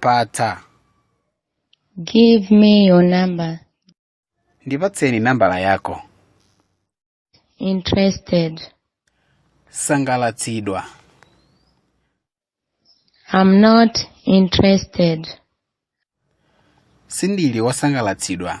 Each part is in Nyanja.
patsa Give me your number. ndipatseni nambala yanu Interested. sangalatsidwa I'm not interested. sindili wosangalatsidwa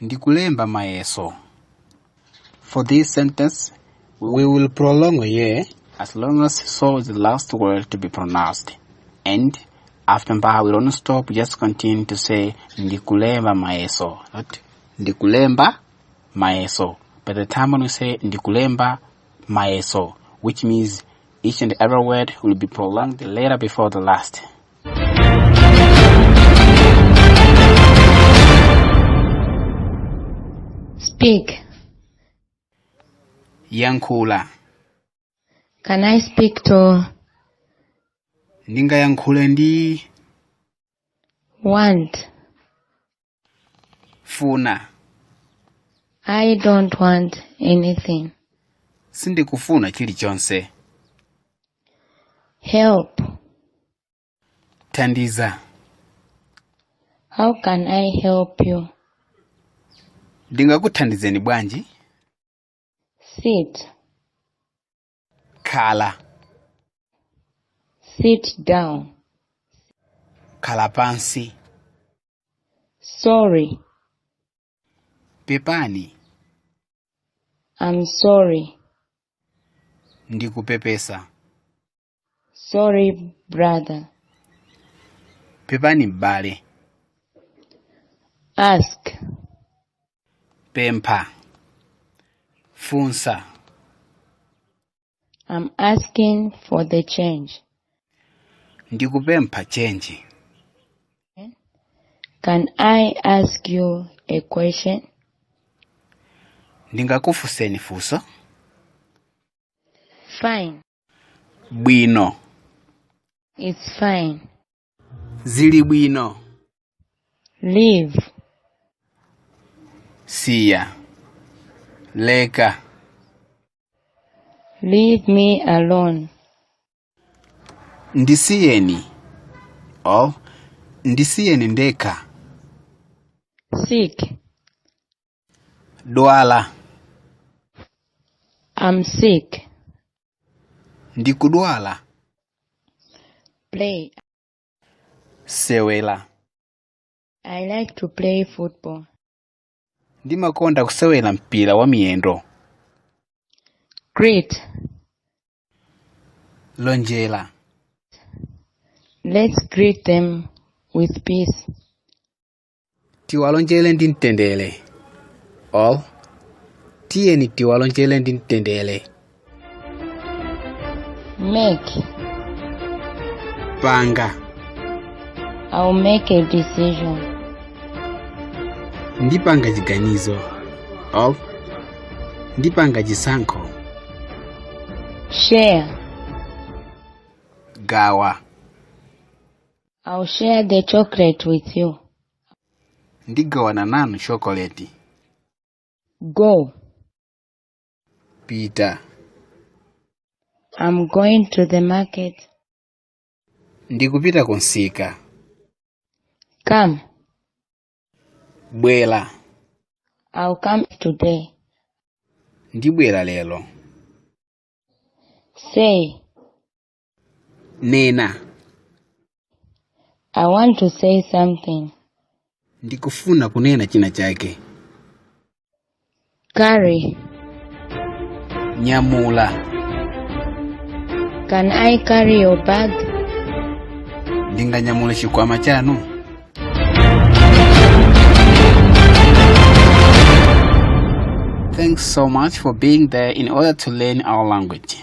ndi kulemba mayeso for this sentence we will prolong a ye as long as so is the last word to be pronounced and after mba we don't stop just continue to say ndi kulemba mayeso not ndi kulemba mayeso by the time when we say ndi kulemba mayeso which means each and every word will be prolonged the letter before the last Speak. yankhula Can I speak to ndingayankhule ndi want? funa I don't want anything. sindikufuna chilichonse Help. thandiza How can I help you? ndingakuthandizeni bwanji Sit. khala sit down khala pansi sorry pepani i'm sorry ndikupepesa sorry brother pepani m'bale ask pempha funsa I'm asking for the change. ndikupempha chenji Can I ask you a question? ndingakufunseni funso Fine. bwino It's fine. zili bwino leave siya leka leave me alone ndisiyeni or ndisiyeni ndekha seek dwala I'm sick. ndikudwala Play. sewera I like to play football. ndimakonda kusewera mpira wa miyendo Greet. lonjera Let's greet them with peace. tiwalonjere ndi mtendere or tiyeni tiwalonjere ndi mtendere Make. panga I'll make a decision. ndipanga chiganizo or ndipanga chisankho Share. gawa I'll share the chocolate with you. ndigawana nanu chokoleti Go. pita I'm going to the market. ndikupita kumsika Come. bwera I'll come today. ndibwera lero Say. nena I want to say something. ndikufuna kunena china chake Carry. nyamula Can I carry your bag? ndinganyamule chikwama chanu Thanks so much for being there in order to learn our language.